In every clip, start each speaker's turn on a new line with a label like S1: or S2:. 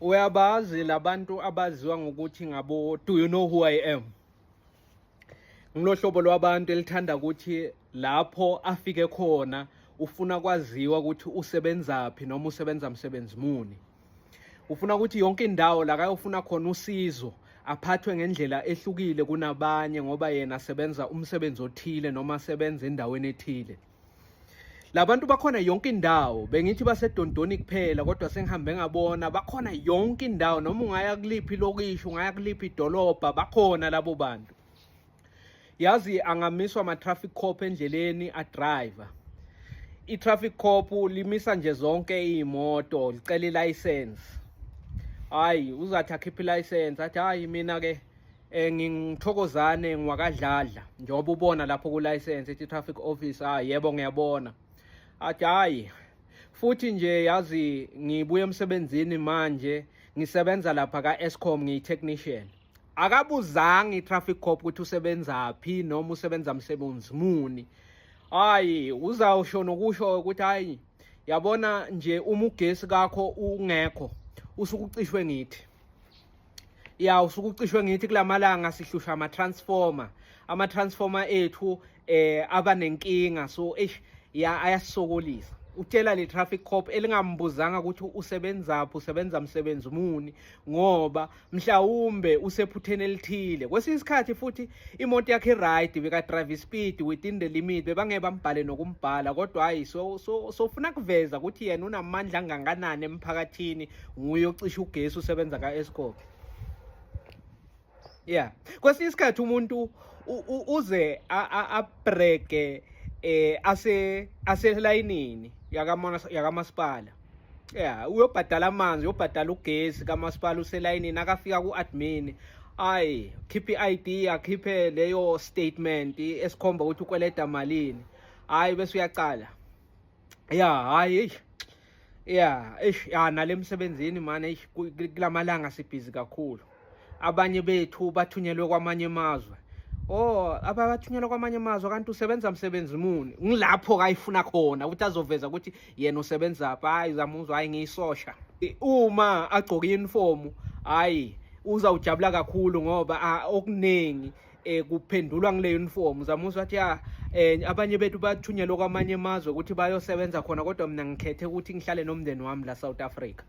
S1: uyabazi labantu abaziwa ngokuthi ngabo do you know who i am ngilohlobo lwabantu elithanda ukuthi lapho afike khona ufuna kwaziwa ukuthi usebenzaphi noma usebenza msebenzi muni ufuna ukuthi yonke indawo la kayofuna khona usizo aphathwe ngendlela ehlukile kunabanye ngoba yena sebenza umsebenzi othile noma sebenza endaweni ethile labantu bakhona yonke indawo bengithi basedondoni kuphela kodwa sengihambe ngabona bakhona yonke indawo noma ungaya kuliphi lokisho ungaya kuliphi idolobha bakhona labo bantu yazi angamiswa ama-traffic cop endleleni adriver i-traffic cop limisa nje zonke iy'moto licela ilayisensi hhayi uzathi akhiphe ilayisensi athi hhayi mina-ke Eh ngingithokozane ngiwakadladla njengoba ubona lapho ku license ethi traffic officer ah yebo ngiyabona. Athi hayi futhi nje yazi ngibuye emsebenzini manje ngisebenza lapha ka Eskom ngiyi technician. Akabuzanga i-traffic cop ukuthi usebenza phi noma usebenza msebenzi muni. Hayi uzawusho nokusho ukuthi hayi yabona nje uma ugesi kakho ungekho usukucishwe ngithi ya usuke ucishwe ngithi kulamalanga sihlushwa ama transformer ama transformer ethu eh aba nenkinga so eish ya ayasokolisa utshela le traffic cop elingambuzanga ukuthi usebenzaphi usebenza msebenzi muni ngoba mhlawumbe usephutheni elithile kwesinye isikhathi futhi imoto yakhe right beka drive speed within the limit bebangeke bambhale nokumbhala kodwa hayi so so sofuna kuveza ukuthi yena unamandla anganganani emphakathini nguye ocisha ugesi usebenza ka Eskom yeah kwesinye isikhathi umuntu uze abreke eh ase aselayinini yakamasipala ya uyobhadala amanzi uyobhadala ugesi kamasipala uselayinini akafika ku-admin ayi khiphe i-id akhiphe leyo statement esikhomba ukuthi ukweleda malini hayi bese uyaqala ya hayi ya eish ya nale msebenzini mane eish kulamalanga sibhizi kakhulu abanye bethu bathunyelwe kwamanye amazwe oh ababathunyelwa kwamanye amazwe kanti usebenza msebenzi muni ngilapho kayifuna khona ukuthi azoveza ukuthi yena usebenza phi hayi zamuzwa hayi ngiyisosha uma agcoka i-uniform hayi uzawujabula kakhulu ngoba okuningi eh kuphendulwa ngile uniform zamusa wathi ya eh abanye bethu bathunyelwa kwamanye amazwe ukuthi bayosebenza khona kodwa mina ngikhethe ukuthi ngihlale nomndeni wami la South Africa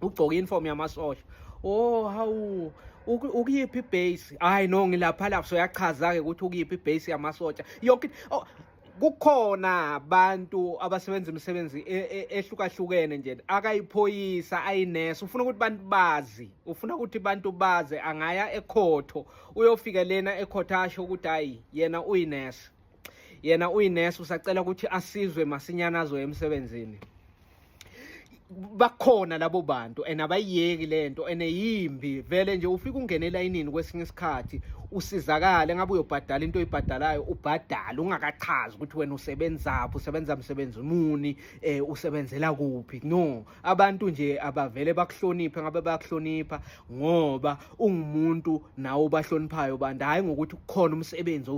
S1: ugcoke uniform yamasosha oh hawu ukuyiphi ibase hayi no ngilapha lapho soyachaza-ke ukuthi ukuyiphi ibase yamasotsha yonke oh, kukhona abantu abasebenza imisebenzi e, e, ehlukahlukene nje akayiphoyisa ayinesa ufuna ukuthi abantu bazi ufuna ukuthi abantu bazi angaya ekhotho uyofike lena ekhotho asho ukuthi hayi yena uyinesa yena uyinesi usacela ukuthi asizwe masinyana azoya emsebenzini bakhona labo bantu and abayiyeki lento and yimbi vele nje ufika ungene elayinini kwesinye isikhathi usizakale ngabe uyobhadala into oyibhadalayo ubhadala ungakachazi ukuthi wena usebenzaphi usebenza msebenzi muni eh usebenzela kuphi no abantu nje abavele bakuhloniphe ngabe bayakuhlonipha ngoba ungumuntu nawe ubahloniphayo bantu hhayi ngokuthi kukhona umsebenzi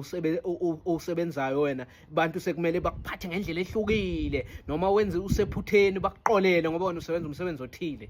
S1: owusebenzayo wena bantu sekumele bakuphathe ngendlela ehlukile noma wenze usephutheni bakuqolele ngoba wena usebenza umsebenzi othile